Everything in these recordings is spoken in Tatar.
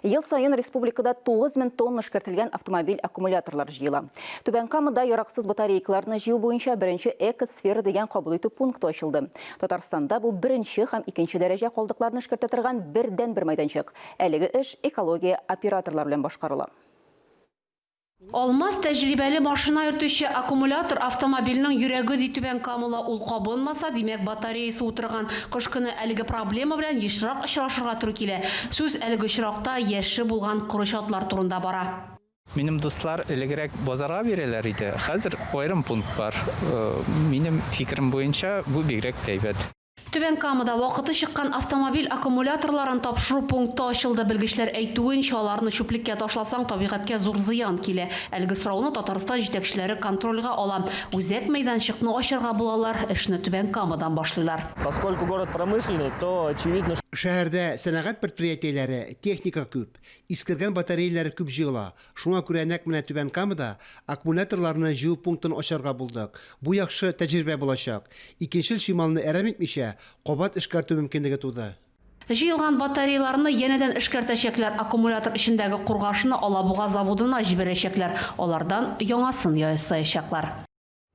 Ел саен республикада 9 мең тонна эшкәртелгән автомобиль аккумуляторлар җыела. Түбән Камада яраксыз батарейкаларны җыю буенча беренче экосфера дигән кабул итү пункты ачылды. Татарстанда бу беренче һәм икенче дәрәҗә калдыкларны эшкәртә торган бердәнбер мәйданчык. Әлеге эш экология операторлары белән башкарыла. Алмаз тәҗрибәле машина йөртүче, аккумулятор автомобильнең йөрәге ди Түбән Камала ул кабынмаса, димәк батареясе утырган. Кыш көне әлеге проблема белән ешрак очрашырга туры килә. Сүз әлеге очракта яше булган коры чатлар турында бара. Минем дуслар элегрәк базарга бирәләр иде, хәзер аерым пункт бар. Минем фикерем буенча, бу бигрәк тә әйбәт. Түбән Камада вакыты чыккан автомобиль аккумуляторларын тапшыру пункты ачылды. Белгечләр әйтүенчә, аларны чүплеккә ташласаң, табигатькә зур зыян килә. Әлеге сорауны Татарстан җитәкчеләре контрольгә ала. Үзәк мәйданчыкны ачарга булалар, эшне Түбән Камадан башлыйлар. Поскольку город промышленный, то очевидно, что. Шәһәрдә сәнәгать предприятиеләре, техника күп, искергән батареяләр күп җыела. Шуңа күрә нәкъ менә Түбән Камада аккумуляторларны җыю пунктын ачарга булдык. Бу яхшы тәҗрибә булачак. Икенчел чималны әрәм итмичә, кабат эшкәртү мөмкинлеге туды. Җыелган батареяларны янәдән эшкәртәчәкләр, аккумулятор эчендәге кургашны Алабуга заводына җибәрәчәкләр, алардан яңасын ясаячаклар.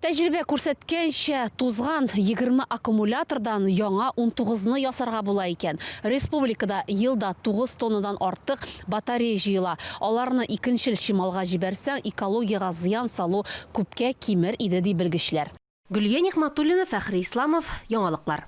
Тәҗрибә күрсәткәнчә, тузган егерме аккумулятордан яңа унтугызны ясарга була икән. Республикада елда тугыз тоннадан артык батарея җыела. Аларны икенчел чималга җибәрсәң, экологиягә зыян салу күпкә кимер иде, ди белгечләр. Гөлия Нигъмәтуллина, Фәхри Исламов, Яңалыклар.